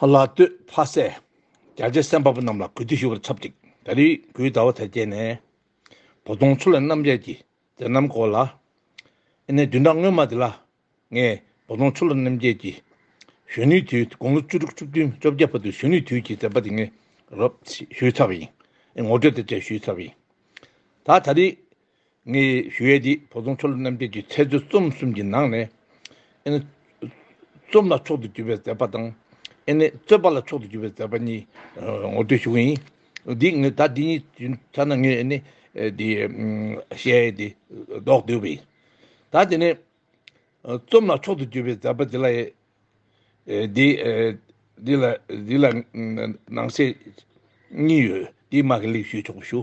ལ་སྟོད་ཕ་སད། རྒྱ་ཆད་སེམས་དཔའ་པོ་རྣམས་ལ་གུས་འདུད་ཞུ་བར་ཚབ་ཅིག་ད་རིས་གུས་ཟླ་བ་དལ་བསྐྱལ་ནས། བོ་དོང་ཆུ་ལེན་རྣམ་རྒྱལ་གྱི་མཛད་རྣམ་སྐོར་ལ། ཨེ་ནས་བདུན་ཕྲག་སྔོན་མ་དེ་ལ། ངས་བོ་དོང་ཆུ་ལེན་རྣམ་རྒྱལ་གྱི། གཞོན་ནུའི་དུས་དགུང་ལོ་བཅུ་དྲུག་བཅུ་བདུན་བཅོ་བརྒྱད་བར་དུ་གཞོན་ནུའི་དུས་ཀྱི་མཛད་པ་དེ་ངས་རོབ་ཞུས་ཚར་བ་ཡིན། ངོ་སྤྲོད་དེ་བཅས་ཞུས་ཚར་བ་ཡིན། ད་ད་རིས། ངས་ཞུ་ཡས་འདི་བོ་དོང་ཆོ་ལོ་རྣམ་རྒྱལ་གྱི་མཚལ་མཛོད་རྩོམ་གསུམ་གྱི་ནང་ནས་ཨེ་ནི། རྩོམ་ལ་མཆོག་ཏུ་གྱུར་པའི་མཛད་པ་དང། ཨེ་ནི། རྩོད་པ་ལ་མཆོག་ཏུ་གྱུར་པའི་མཛད་པ་གཉིས་ངོ་སྤྲོད་ཞུ་གི་ཡིན། འདི་ངས་ད་འདི་གཉིས་ཀྱི་ཐད་ན་ངས་ཨེ་ནི། འདི་ཞེས་ཡས་འདི་བདོག་འདོད་པ་ཡིན། ད་དེ་ནས། རྩོམ་ལ་མཆོག་ཏུ་གྱུར་པའི་མཛད་པ་འདི་ལ་ཡི། འདི་ལ་འདི་ལ་ནང་གསེས་གཉིས་ཡོད། འདིའི་དམག་གི་ལེགས་ཞུས་ཆོག་པ་ཞུ།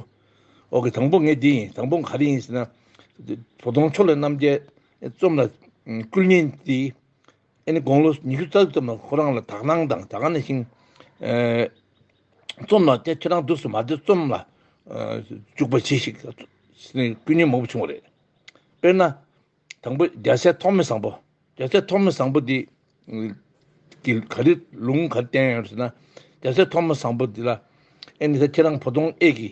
འོག་གི་དང་པོ་ངས་འདི་ཡིན་དང་པོ་ག་རེ་ཡིན་ཟེར་ན། བོ་དོང་ཕྱོགས་ལས་རྣམ་རྒྱལ་རྩོམ་ལ་བསྐུལ་ཉིན་དེ། ཨེ་ནི་དགུང་ལོ་ཉི་ཤུ་རྩ་དྲུག་ཙམ་ལ་ཁོ་རང་ལ་དག་སྣང་དང་དགའ་སྣང་ཞིང། རྩོམ་ལ་དེ་ཁྱེད་རང་དུས་སུ་མ་བདེ་རྩོམ་ལ་འཇུག་པ་གྱིས་ཤིག། བསྐུལ་ཉིན་མང་པོ་བྱུང་བ་རེད། དཔེར་ན། དང་པོ་རྒྱ་སྲས་ཐོགས་མེད་བཟང་པོ། རྒྱ་སྲས་ཐོགས་མེད་བཟང་པོ་འདི། གི་ག་རེ་ལུང་ག་རེ་བསྟན་ཡོད་ཟེར་ན། རྒྱ་སྲས་ཐོགས་མེད་བཟང་པོ་འདི་ལ། ཨེ་ནི་ད་ཁྱེད་རང་བོ་དོང་ཨེ་གི།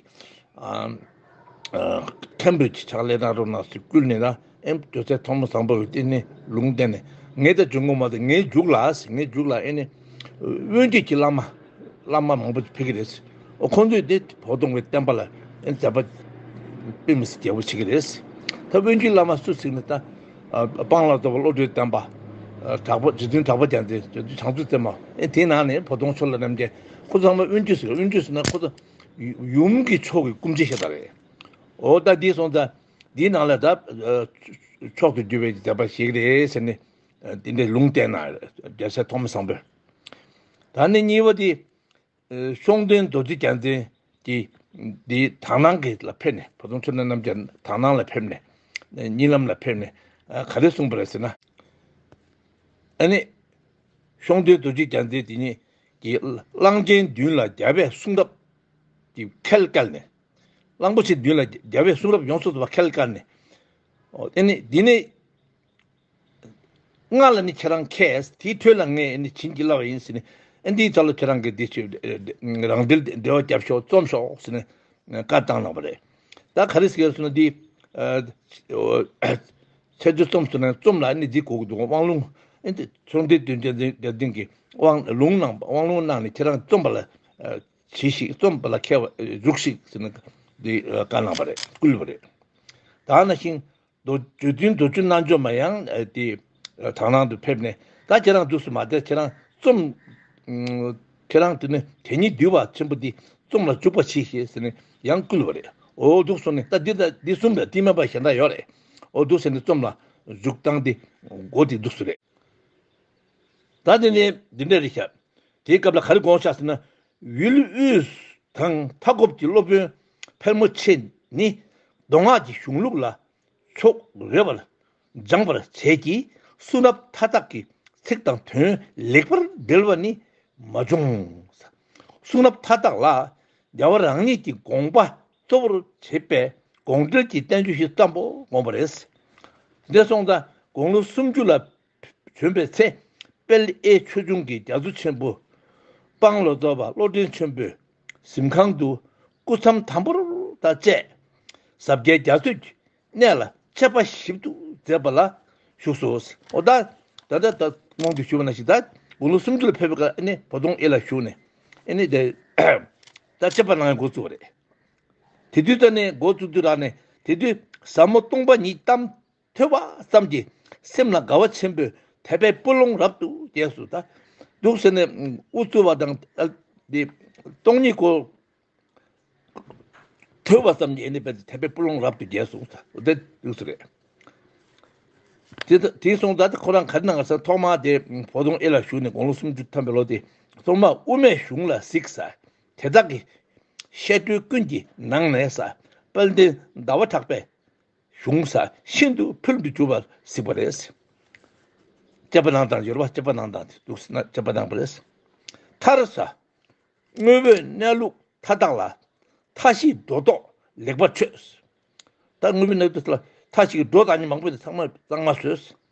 མཁན་པོས་ཕྱག་ལས་གནང་རོགས་གནང་ཟེར་བསྐུལ་ནས་ན། ཨེ་རྒྱ་སྲས་ཐོགས་མེད་བཟང་པོ་འདི་ནི་ལུང་བསྟན་ནས། ངའི་ད་བྱོན་ངོ་མ་ད་ངའི་རྒྱུགས་ལ། ངའི་རྒྱུགས་ལ་ཨེ་ནི། དབོན་སྟོད་ཀྱི་བླ་མ་བླ་མ་མང་པོ་ཕེབས་ཀྱི་རེད། ཁོང་ཚོས་དེ་བོགས་གཏོང་བའི་བསྟན་པ་ལ་མཛད་པ་དཔེ་མི་སྲིད་རྒྱལ་པོ་བྱེད་ཀྱི་རེད། ད་དབོན་སྤྱིའི་བླ་མ་སུ་ཟིག་ནས་ད་སྤང་ལ་ལྟོ་བ་བློ་གྲོས་བསྟན་པ་གྲགས་པ་རྗེ་བཙུན་གྲགས་པ་རྒྱ་མཚོས་བྱང་ཆུབ་སེམས་དཔའ་མ་དེའི་ནང་ནས་བོགས་གཏོང་ཕྱོགས་ལ་རྣམ་རྒྱལ་ཁོ་ཚང་མ་དབོན་སྤྱིས་དབོན་སྤྱིས་ཟེར་ན་ཁོ་ཚོ་ཡུམ་གྱི་ཕྱོགས་ཀྱི་སྐུ་མཆེད་ཞེ་དྲག་རེད། འོ་ད་འདི་སོང་ད་འདིའི་ནང་ལ་ད་མཆོག་ཏུ་གྱུར་པའི་མཛད་པ་ཞིག་རེད་ཟེར་ནས། དེ་འདྲའི་ལུང་བསྟན་ན་རྒྱལ་སྲས་ཐོག་མ་བཟང་པོས། ད་ནི་གཉིས་པ་དེ། གཤོང་སྟོན་རྡོ་རྗེ་རྒྱལ་མཚན་གྱིས་དེའི་དག་སྣང་གི་ལ་ཕེབས་ནས་ཕོ་བྲང་ཆོས་གྲྭ་རྣམས་ཀྱི་དག་སྣང་ལ་ཕེབས་ནས། རྙིང་ལམ་ལ་ཕེབས་ནས་ག་རེ་གསུངས་པ་རེད་ཟེར་ན། ཨ་ནི། གཤོང་སྟོན་རྡོ་རྗེ་རྒྱལ་མཚན་དེ་ཉིད་ཀྱིས་གླང་ཆེན་བདུན་ལ་རྒྱལ་བའི་གསུང་རབ་ཀྱི་ཁལ་བཀལ་ནས། གླང་པོ་ཆེ་བདུན་ལ་རྒྱལ་བའི་གསུང་རབ་ཡོངས་སུ་དག་པ་ཁལ་བཀལ་ནས། ཨ་ནི། དེ་ནས། ང་ལ་ནི་ཁྱེད་རང་མཁས། དེའི་དོན་ལ་ངས་ནི་བྱིན་གྱིས་བརླབས་པ་ཡིན། ཟེར་ནས་འདིའི་ཐོག་ལ་ཁྱེད་རང་གིས་འདི་ཆོས་རང་འགྲེལ་ཏེ་འགྲེལ་བ་བརྒྱབ་ཤོག་རྩོམ་ཤོག་ཟེར་ནས་བཀའ་བཏང་གནང་བ་རེད། ད་ག་རེ་ཟེར་སོང་ན་འདི། ཚེ་སྒྲོལ་རྩོམ་ཟེར་ན་རྩོམ་ལ་ནི་འདི་གོ་གི་འདུག་དབང་ལུང། ཚོགས་འདུའི་དོན་རྒྱལ་མཚན་གྱིས་དབང་ལུང་གནང་ནས་ཁྱེད་རང་རྩོམ་པ་ལ་གྱིས་ཤིག་རྩོམ་པ་ལ་མཁས་པ་རྒྱུགས་ཤིག་ཟེར་ནས་འདི་བཀའ་གནང་བ་རེད་བསྐུལ་བ་རེད། ད་ན་ཤིང། མདོ་རྒྱུད་བདུན་མདོ་རྒྱུད་རྣལ་འབྱོར་མ་ཡང་དེ་དག་ནང་དུ་ཕེབས་ནས་ད་ཁྱེད་རང་འདུག་སུ་མ་བསྡད་ཁྱེད་རང་རྩོམ། ཁྱེད་རང་དེ་ནི་དེ་ཉིད་འདུལ་བ་ཆེན་པོ་འདི་རྩོམ་ལ་འཇུག་པར་གྱིས་ཞེས་ཟེར་ནས་ཡང་བསྐུལ་བ་རེད་འོ་འདུག་སུ་ནི་ད་འདི་ལྟ་འདི་གསུམ་ལས་བསྟི་མ་པ་གཞན་དག་ཡོད་རེད་འོ་འདུག་ཟེར་ནས་རྩོམ་ལ་འཇུག་སྟངས་དེ་གོ་དེ་འདུག་སུ་རེད། ད་དེ་ནི་འདི་འདྲ་རེད་བྱ། དེའི་སྐབས་ལ་ག་རེ་དགོངས་བྱ་ཟེར་ན། ཝུའུ་ལི་ཝུས་དང་མཐའ་འཁོབ་ཀྱི་སློབ་དཔོན་ཕེར་མོ་ཆེ་ནི་མདོ་སྔགས་ཀྱི་གཞུང་ལུགས་ལ་ཕྱོགས་རེ་བར་སྦྱངས་པར་བྱས་ཀྱིས་གསུང་རབ་མཐའ་དག་གི་ཚིག་དང་དོན་ལེགས་པར་འགྲེལ་བ་ནི་མ་བྱུང། གསུང་རབ་མཐའ་དག་ལ་རྒྱལ་བ་རང་ཉིད་ཀྱི་དགོངས་པ་གཙོ་བོར་བྱེད་པའི་དགོངས་འགྲེལ་གྱི་བསྟན་བཅོས་བཞི་ཙམ་པོ་བསྒོམས་པ་རེད། འདས་སོང་ད་དགུང་ལོ་སུམ་ཅུ་ལ་བྱོན་པའི་ཚེ། དཔལ་ཨེའི་ཆོས་འབྱུང་གི་རྒྱ་མཚོ་ཆེན་པོ། དཔང་ལོ་རྫོགས་པ་བློ་ལྡན་ཆེན་པོས་གཟིམས་ཁང་དུ། སྐུ་མཚམས་དམ་པོར་དང་བཅས་ཟབ་རྒྱས་རྒྱ་མཚོས་གནས་ལ་ཆད་པ་ཞིབ་ཏུ་མཛད་པ་ལ་བཞུགས་སོ། ད་ལྟ་ད་ལྟ་རྨོངས་དུ་བྱུང་ན་ཞིག་ད་དགུང་ལོ་སུམ་ཅུ་ལ་ཕེབས་པའི་སྐབས་བོ་དོང་ཨེ་ལ་བཞུགས་ནས། ད་ཆད་པ་ནང་འགོ་བཙུགས་པ་རེད། དེ་དུས་ད་ནས་འགོ་བཙུགས་དུས་རག་ནས་དེ་དུས་ཟབ་མོ་སྟོང་པ་ཉིད་གཏམ། ཐོས་པ་ཙམ་གྱིས་སེམས་ལ་དགའ་བ་ཆེན་པོས་དད་པའི་སྤུ་ལོང་རབ་ཏུ་རྒྱས་སོ། ད་གདུགས་ཟེར་ནས་དབུ་བཙུར་བ་དང། སྟོང་ཉིད་སྐོར། ཐོས་པ་ཙམ་གྱིས་དད་པའི་སྤུ་ལོང་རབ་ཏུ་རྒྱས་སོ། དེ་གདུགས་ཟེར། དེས་སོང་ད་ཁོ་རང་ག་རེ་གནང་ས་ཐོག་མར་དེ་བོ་དོང་ཨེ་ལ་བཞུགས་ནས་དགུང་ལོ་སུམ་ཅུ་ཐམ་པའི་ལོ་དེ་གཙང་མ་དབུ་མའི་གཞུང་ལ་གཟིགས། དེ་དག་གི་བཤད་སྒྲོས་ཀུན་གྱི་ནང་ནས་ས་དཔལ་ལྡན་ཟླ་བ་གྲགས་པས། གཞུང་ས་ཤིན་ཏུ་ཕུལ་དུ་གྱུར་པར་གཟིགས་པ་རེད། སྐྱེས་པ་ནང་དང་ཡོལ་བ་སྐྱེས་པ་ནང་དང་དེ་དུག་སེལ་ན་སྐྱེས་པ་ནང་པ་རེད། མཐར། དངོས་པོའི་གནས་ལུགས་མཐའ་དག་ལ་མཐའ་བཞིའི་སྒྲོ་འདོགས་ལེགས་པར་ཆོད། ད་དངོས་པོའི་གནས་ལུགས་མཐའ་བཞིའི་སྒྲོ་འདོགས་གཉིས་མང་པོ་དེ་ཚང་མ་གཙང་མ་བཟོས།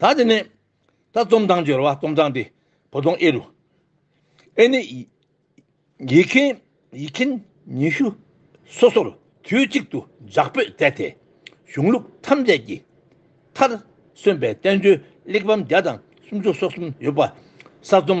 ད་དེ་ནས་ད་རྩོམ་སྟངས་སྦྱོར་བ་རྩོམ་སྟངས་དེ་བོ་དོང་ཨེ་རུ། ཨེ་ནི། ཡིག་མཁན་ཡིག་མཁན་ཉི་ཤུ་སོ་སོར་དུས་གཅིག་ཏུ་ཇག་པོས་བཙལ་ཏེ་གཞུང་ལུགས་ཐམས་ཅད་ཀྱི་མཐར་སོན་པའི་བསྟན་བཅོས་གླེགས་བམ་བརྒྱ་དང་སུམ་ཅུ་སོ་གསུམ་ཡོད་པ་གསར་རྩོམ་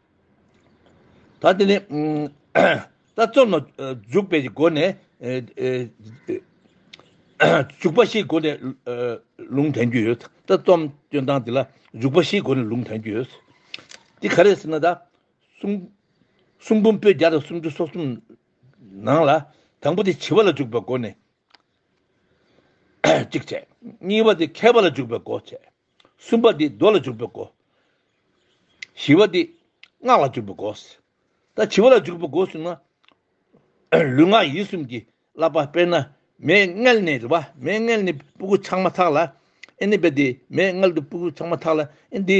ད་དེ་ནི། ད་རྩོམ་ལ་འཇུག་པའི་སྒོ་ནས། འཇུག་པ་བཞིའི་སྒོ་ནས་ལུང་དྲན་རྒྱུ་ཡོད། ད་རྩོམ་སྐྱོན་སྟངས་དེ་ལ་འཇུག་པ་བཞིའི་སྒོ་ནས་ལུང་དྲན་རྒྱུ་ཡོད། དེ་ག་རེད་ཟེར་ན། གསུང་འབུམ་པོད་བརྒྱ་དང་སུམ་ཅུ་སོ་གསུམ་ནང་ལ། དང་པོ་དེ་བྱེད་པ་ལ་འཇུག་པའི་སྒོ་ནས་གཅིག་བྱས། གཉིས་པ་དེ་མཁས་པ་ལ་འཇུག་པའི་སྒོ་བྱས། གསུམ་པ་འདི་རྡོ་ལ་འཇུག་པའི་སྒོ། བཞི་བ་འདི་སྔགས་ལ་འཇུག་པའི་སྒོ། ད་བྱི་བ་ལ་འཇུག་པའི་སྒོ་ཟུང་ན། ལུས་ངག་ཡིད་གསུམ་གྱི་བསླབ་པ་དཔེར་ན་མའི་མངལ་ནས་རེ་བ་མའི་མངལ་ནས་སྤུ་གུ་ཆགས་མ་ཐག་ལ་ཨེ་ནི་དཔེ་དེ་མའི་མངལ་དུ་སྤུ་གུ་ཆགས་མ་ཐག་ལ་ཨེ་འདི།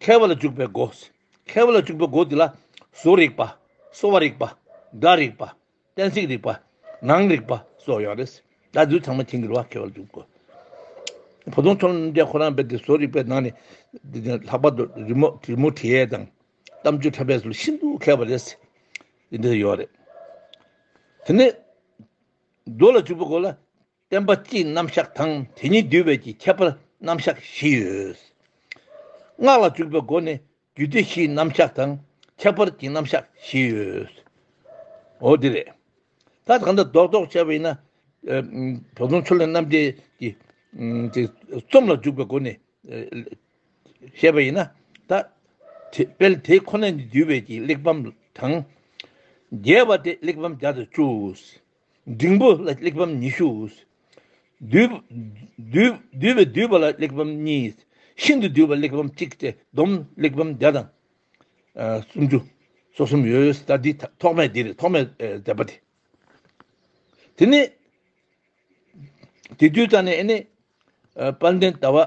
མཁས་པ་ལ་འཇུག་པའི་སྒོ། མཁས་པ་ལ་འཇུག་པའི་སྒོ་འདི་ལ། གཟུགས་རིག་པ། གསོ་བ་རིག་པ། སྒྲ་རིག་པ། གཏན་ཚིགས་རིག་པ། ངང་རིག་པ་སོགས་ཡོད་རེད། ད་བདུད་ཚང་མ་ཁྱེད་འགྱུར་བ་མཁས་པ་ལ་འཇུག་པའི་སྒོ། བུ་སྟོང་ཐུན་རྣམ་རྒྱལ་ཁོ་རང་དཔེ་དེ་གཟུགས་རིག་པའི་ནང་ནས། ལྷག་པར་དུ་རི་མོ་དྲི་མོ་དྲི་ཡས་དང། གཏམ་རྒྱུད་འཕྲད་པས་སུ་ལ་ཤིན་ཏུ་མཁས་པ་རེད། འདི་ཡོད་རེད། དེ་ནས། རྡོ་ལ་འཇུག་པའི་སྒོ་ལ། བསྟན་པ་སྤྱིའི་རྣམ་གཞག་དང་དེ་ཉིད་བསྡུས་པའི་ཀྱི་ཁྱད་པར་རྣམ་གཞག་བཞི་ཡོད། སྔགས་ལ་འཇུག་པའི་སྒོ་ནས་རྒྱུད་སྡེ་བཞིའི་རྣམ་གཞག་དང་ཁྱད་པར་གྱི་རྣམ་གཞག་བཞི་ཡོད། འོ་དེ་རེད། ད་གང་འདྲ་རྡོག་རྡོག་བྱས་པ་ཡིན་ན། བོ་དོང་ཆོས་ལས་རྣམ་རྒྱལ་གྱི། དེ་རྩོམ་ལ་འཇུག་པའི་སྒོ་ནས། བཤད་པ་ཡིན་ན། ད། དཔལ་དེ་ཁོ་ན་ཉིད་བསྡུས་པའི་ཀྱི་གླེགས་བམ་དང། རྒྱས་པ་སྟེ་གླེགས་བམ་བརྒྱ་དང་བཅུ། འབྲིང་པོ་ལ་གླེགས་བམ་ཉི་ཤུ། བསྡུས་པའི་བསྡུས་པ་ལ་གླེགས་བམ་གཉིས། ཤིན་ཏུ་བསྡུས་པ་གླེགས་བམ་གཅིག་སྟེ་བསྡོམས་གླེགས་བམ་བརྒྱ་དང་སུམ་ཅུ་སོ་གསུམ་ཡོད་ད་འདི་ཐོག་མའི་འདིར་ཐོག་མའི་མཛད་པ་དེ། དེ་ནི། དེ་དུས་ད་ནི་ཨེ་ནི། དཔལ་ལྡན་ཟླ་བ།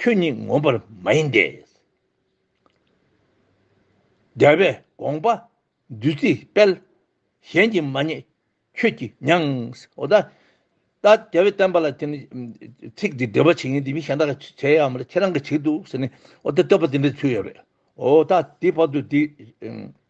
ཁྱོད་ཉིད་ངོམས་པར་མ་ཡིན་ཏེ། རྒྱལ་བའི་དགོངས་པ་བདུད་རྩིའི་དཔལ། གཞན་གྱིས་མ་རྙེད་ཁྱོད་ཀྱིས་མྱངས། ཨོ་ད། ད་རྒྱལ་བས་བསྟན་པ་ལ་དེ་ནི། ཚིག་འདི་འགྲེལ་པར་བྱེད་ངེས་འདི་མི་གཞན་དག་གིས་བྱེད་ཡ་མ་རེད་ཁྱེད་རང་གིས་བྱེད་དུ་ཟེར་ནས་ཨོ་ད་བསྟོད་པ་འདི་འདྲའི་ཚུལ་ཡོད་རེད། ཨོ་ད། དེའི་བར་དུ་དེའི།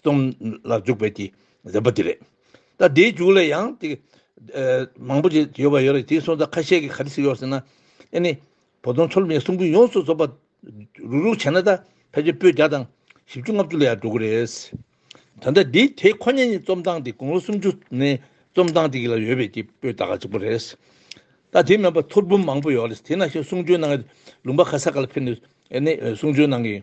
སྟོང་ལ་འཇུག་པའི་དེ་རིམ་པ་དེ་རེད། ད་དེའི་རྒྱུགས་ལ་ཡང་དེ། མང་པོ་ཞིག་ཡོད་པ་ཡོད་རེད་དེའི་སོང་ཙང་ཁ་ཤས་ཀྱི་ག་རེ་ཞིག་ཡོད་ཟེར་ན། ཨེ་ནི། བོ་དོང་ཆོ་ལོམ་ཡའི་གསུང་འབུད་ཡོངས་སུ་རྫོགས་པ། རུག་རུག་བྱས་ན་ད་ཕལ་ཆེར་པོད་བརྒྱ་དང་བཞི་བཅུ་ལྔ་བཅུ་ལ་ཡང་འགྲོ་གི་རེད། ད་ལྟ་འདི་དེ་ཁོ་ནའི་རྩོམ་སྟངས་དེ་དགུང་ལོ་སུམ་ཅུ་ནས་རྩོམ་སྟངས་དེ་གི་ལ་ཡོད་པའི་དེ་པོད་ད་ག་གཅིག་པོ་རེད། ད་དེ་མེད་པར་ཐོར་འབུམ་མང་པོ་ཡོད་རེད་དེ་ན་ཞིག་གསུང་ཆོས་གནང་གི་རེད་ལུང་པ་ཁ་ས་ག་ལ་ཕེབས་ནས་ཨེ་ནི་གསུང་ཆོས་གནང་གི།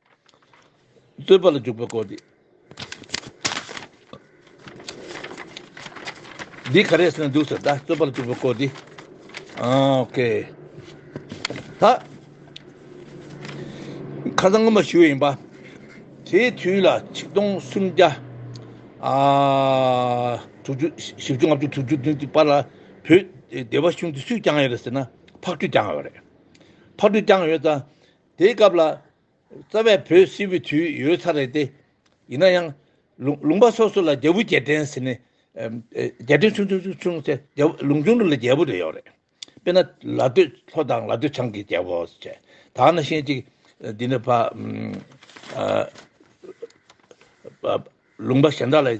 བསྟོད་པ་ལ་འཇུག་པའི་སྒོ་སྟེ། འདི་ག་རེ་ཟེར་ན་འདུག་ཟེར་ད་བསྟོད་པ་ལ་འཇུག་པའི་སྒོ་སྟེ། ཨོ་ཀེ། ད་ཁ་སང་སྔོན་མ་ཞུས་ཡིན་པ། དེའི་དུས་ལ་ཆིག་སྟོང་སུམ་བརྒྱ་ཨ་དྲུག་ཅུ་བཞི་བཅུ་ལྔ་བཅུ་དྲུག་ཅུ་བདུན་ཅུ་བར་ལ་བོད་སྡེ་བ་གཞུང་དེ་སུས་བསྐྱངས་ཡོད་རེད་ཟེར་ན་ཕག་གྲུས་བསྐྱངས་ཡོད་རེད། ཕག་གྲུས་བསྐྱངས་ཡོད་ད། དེའི་སྐབས་ལ། རྩ་བའི་བོད་སིལ་བུའི་དུས་ཡོལ་ཚར་རེད་དེ། ཡིན་ན་ཡང། ལུང་པ་སོ་སོ་ལ་རྒྱལ་བུ་རྒྱལ་ཕྲན་ཟེར་ནས། རྒྱལ་ཕྲན་ཆུང་ཆུང་ཆུང་ཆུང་ཚེ་ལུང་ཆུང་ཆུང་ལ་རྒྱལ་བུ་རེ་ཡོད་རེད། དཔེར་ན་ལ་སྟོད་ལྷོ་དང་ལ་སྟོད་བྱང་གི་རྒྱལ་བོ་ཟེར། ད་ནི་ཤེས་ཅིག། འདི་ནི་ཕ། ལུང་པ་གཞན་དག་ལ།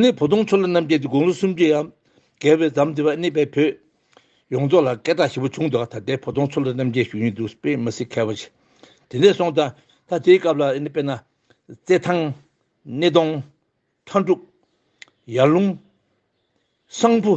ནི་བོ་དོང་མཚོ་ལ་རྣམ་རྒྱལ་གྱི་དགུང་ལོ་སུམ་ཅུའི་ཡར་གལ་བའི་ཛམ་དེ་བ་གནས་པའི་བོད་ཡོངས་རྫོགས་ལ་སྐད་གྲགས་ཞེ་པོ་བྱུང་འདུག་ད་ལྟའི་བོ་དོང་མཚོ་ལ་རྣམ་རྒྱལ་བཞུགས་ཡུལ་འདུག་པས་མི་སྲིད་ཁ་བ་ཆེ། དེ་ནས་སོང་ད་ད་དེའི་སྐབས་ལ་དཔེར་ན། རྩེ་ཐང། སྣེ་གདོང། ཁྲ་འབྲུག། ཡར་ཀླུང། གསང་ཕུ།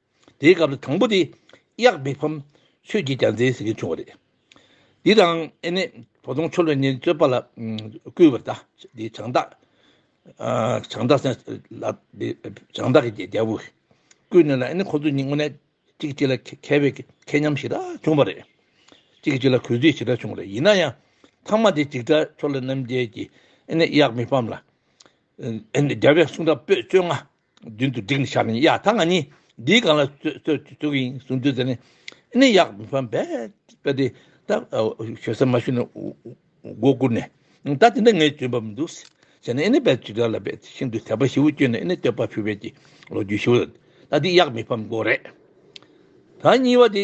དེའི་སྐབས་སུ་དང་པོ་དེ་གཡག་བི་ཕམ་ཆོས་ཀྱི་རྒྱ་མཚན་ཟེར་གྱི་བྱུང་བ་རེད། འདི་དང་ཨེ་ནས་བོ་དོང་ཆོ་ལོས་ནི་རྩོད་པ་ལ་བསྐུལ་བར་དེ་བྱང་བདག་བྱང་བདག་སེང་ལ་བྱང་བདག་གི་རྒྱལ་པོ་བསྐུལ་ནས་ལ་ཨེ་ནས་ཁོ་ཚོ་གཉིས་དངོས་གནས་གཅིག་གཅིག་ལ་མཁས་པའི་མཁས་མཉམ་ཞིག་ལ་བྱུང་བ་རེད། གཅིག་གཅིག་ལ་གུས་བརྩི་ཞིག་ལ་བྱུང་བ་རེད་ཡིན་ན་ཡང་ཐང་མ་དེ་འཇིགས་བྲལ་ཆོ་ལོ་རྣམ་རྒྱལ་གྱིས་ཨེ་ནས་གཡག་བི་ཕམ་ལ་ཨེ་ནས་རྒྱལ་བའི་གསུང་སྒྲ་སྤོས་བཅོ་ལྔ། མདུན་དུ་བསྒྲིགས་ནས་བཞག་ནས་ཡ་ད་ང་ནི་འདིའི་སྒང་ལ་བཙུགས་ཡིན་གསུངས་དུས་དེ་ནས་ནི་ཡག་ཕམ་པས་པས་དེ་ད་ཞོལ་ས་མ་ཞུ་ནས་མགོ་བསྐུར་ནས་ད་དེ་འདྲ་ངས་བྱོན་པ་མི་འདུག་ཟེར་ནས་ཨེ་ནི་པས་ཇི་ལྟར་ལ་པས་ཤིན་ཏུ་དད་པ་ཞི་བོ་བསྐྱོན་ནས་ཨེ་ནི་བསྟོད་པ་ཕུལ་བས་ཀྱི་ལོ་རྒྱུས་ཞིག་ལ་ད་འདི་ཡག་མི་ཕམ་མགོ་རེད། ད་གཉིས་པ་དེ་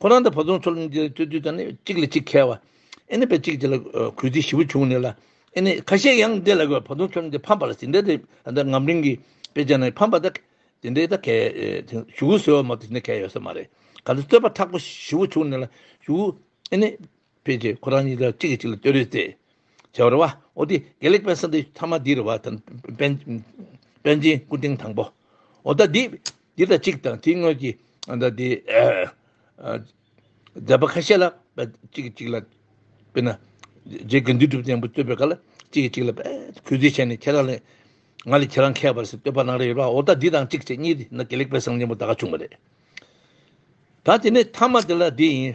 ཁོ་རང་དང་བུ་ཆུང་ཚོ་གླིང་རྗེ་སྟོད་དུས་དང་ནི་གཅིག་ལ་གཅིག་ཁེལ་བ། ཨེ་ནི་བེ་གཅིག་དེ་ལ་གུས་བརྩི་ཞིབ་པོ་བྱུང་ནས་ལ་ཨེ་ནི་ཁ་ཤས་ཡང་དེ་ལ་བུ་ཆུང་ཚོ་གླིང་དེ་ཕམ་པ་ལ་ཟིན་བྲིས་དེ་ངམ་གླིང་གི་དཔེ་ཆ་ནི་ཕམ་པ་དེ་འདྲའི་ད་གལ་ཞུ་གུ་ཟེར་བ་མ་དེ་འདྲ་གལ་ཡོད་ས་མ་རེད་ག་ཚོད་རྩོད་པ་ཁྲག་པོ་ཞིབ་པོ་བྱུང་ནས་ལ་ཞུ་གུ་ཨེ་ནི། དཔེ་དེ་ཁོ་རང་གཉིས་ཀ་གཅིག་གིས་གཅིག་ལ་ལྟོས་རེས་ཏེ། བྱ་བ་རེ་བ། འོ་དེ་དགེ་ལེགས་དཔལ་ས་འདི་ཐ་མ་འདི་རེ་བ། དཔལ། དཔལ་ཆེན་སྐུ་སྟེང་དང་པོ། འོ་ད་འདི། འདི་དང་གཅིག་དང་དེའི་དངོས་ཀྱི། འོ་ད་འདི། མཛད་པ་ཁ་ཤས་ལ། གཅིག་གིས་གཅིག་ལ། དཔེར་ན། རྗེ་དགེ་འདུན་གྲུབ་བསྟན་པོ་བསྟོད་པའི་སྐབས་ལ། གཅིག་གིས་གཅིག་ལ། གུས་བརྩི་བྱས་ནས་ཁྱེད་རང་ལས། ང་ལས་ཁྱེད་རང་མཁས་པར་སྲིད་བསྟོད་པ་གནང་རེ་ཡོད་པ་འོ་ད་འདི་དང་གཅིག་བྱས་གཉིས་འདི་ན་དགེ་ལེགས་དཔལ་བཟང་ཆེན་པོ་ད་ག་བྱུང་བ་རེད། ད་དེ་ནས་ཐ་མ་དེ་ལ་འདི་ཡིན།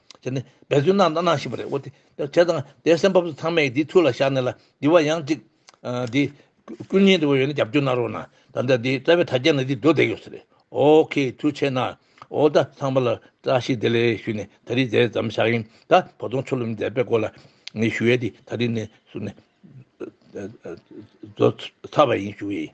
དེ་ནི་འབད་བརྩོན་གནང་དང་གནང་བཞིན་པ་རེད་འོ་དེ་དེ་དང་དེ་སེམས་བབས་སུ་ཚང་མས་དེའི་ཐུགས་ལ་བཞག་ནས་ལ་འདི་བ་ཡང་ཅིག་དེ། ཀུན་མཉེས་དེ་བ་ཡོད་ན་རྒྱབ་སྐྱོར་གནང་རོགས་གནང་ད་ལྟ་དེ་རྩ་བའི་དྲ་རྒྱ་ནས་དེ་འགྲོ་བསྡད་ཡོད་ས་རེད་ཨོ་ཁེ་ཐུགས་ཆེ་གནང་འོ་ད་ཚང་མ་ལ་བཀྲ་ཤིས་བདེ་ལེགས་ཞུ་ནས་ད་རིས་མཛད་རྩམ་བཞག་ཡིན་ད་བོ་དོང་ཆོ་ལོ་མི་མཛད་པའི་སྐོར་ལ་ངས་ཞུ་ཡས་དེ་ད་རིས་ནས་ཟུར་ནས་རྫོགས་ཚར་བ་ཡིན་ཞུ་ཡས།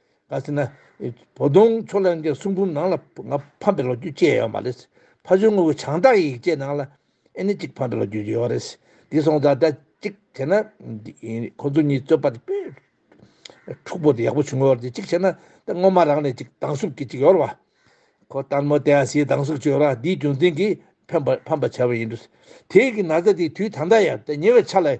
ད་ཟེར་ན། བོ་ལྡོང་མཚོ་ལྷན་རྒྱས་གསུང་འབུམ་ནང་ལ་ང་ཕམ་པའི་ལོ་རྒྱུས་བཅས་ཡོད་པ་རེད། ཕ་ཆོས་དངོས་ཀྱི་བྱང་བདག་ཡིག་བཅས་ནང་ལ་ཨེ་ནི་གཅིག་ཕམ་པའི་ལོ་རྒྱུས་ཡོད་རེད། དེ་སོང་ཙང་ད་གཅིག་བྱས་ན། ཁོ་ཚོ་གཉིས་རྩོད་པ་དེ་དཔེ། འཁྲུག་པོ་དེ་ཡག་པོ་བྱུང་ཡོད་རེད་གཅིག་བྱས་ན་ད་སྔོན་མ་རང་ནས་གཅིག་སྡང་ཟུག་གིས་གཅིག་ཡོད་རེད་བ། ཁོ་ལྟར་མོ་དེ་ཡང་སའི་སྡང་ཟུག་ཅིག་ཡོད་རེད་དེའི་རྒྱུ་མཚན་གྱིས་ཕམ་པ་བྱས་པ་ཡིན་འདུག་དེའི་གི་ན་ཚ་དེ་དུས་ད་ལྟ་ཡང་ད་ཉེ་བའི་ཆ་ལ།